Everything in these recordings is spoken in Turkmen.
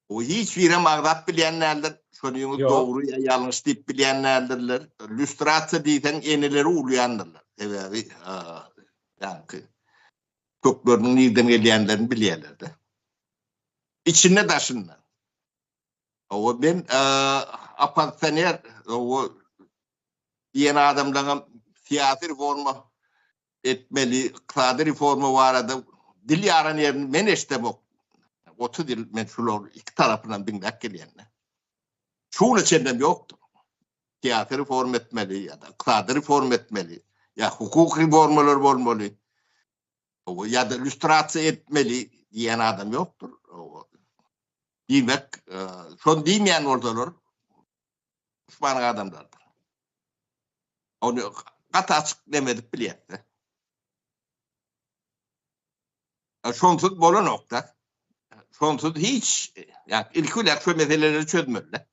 O hiç birem agzap bilýän däldir. Şony ýöne dogry ýa ýalňyş diýip bilýän däldirler. Lýustrasiýa diýseň eneleri urýandyrlar. Sebäbi ýaňky kökleriniň nirden gelýändirini bilýärler-de. Içinde daşynda. O ben oppozisioner o diýen adamlaryň syýasy reforma etmeli ykdysady reforma barada dil ýaran ýerini men eşdemok otuz ýyl men şular iki tarapynam diňläp gelýän şu güne çenlem ýokdur syýasy reforma etmeli ýa-da ykdysady reforma etmeli ýa hukuk reformalar bolmaly ýa-da illýustrasiýa etmeli diýen adam ýokdur diýmek e, şon diýmeýän bolsalar duşmanyň adamlarydyr. Ony gaty açyk neme edip bilýäs-de. Şonsuz bolanok-da. Şonsuz hiç, ýa ilki bilen şu meseleleri çözmeli-de.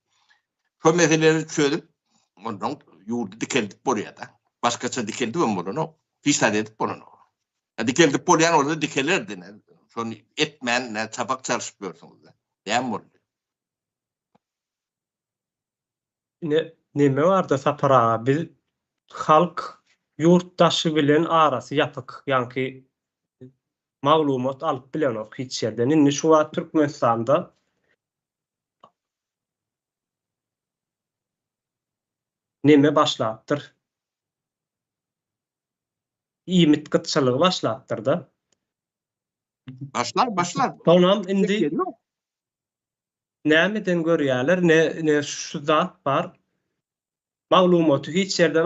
Şu meseleleri çözüp, ondan ýurdy dikeldip bolýar-da. Başgaça dikeldip hem bolanok. Hiç zat edip bolanok. E, dikeldip bolýan bolsa dikelerdi. Şony etmän, çapak çalyşyp ýörsüňiz-de. Näme boldy? Ine neme barda Sapar aga biz halk yurt daşy bilen arasy yapyk yanki maglumat alyp bilenok hiç yerden indi şu wagt Türkmenistanda neme başlapdyr iýmit gytçylygy başlapdyrda. Başlar başlar. Sonam indi nämeden görýäler ne şu zat bar maglumaty hiç ýerden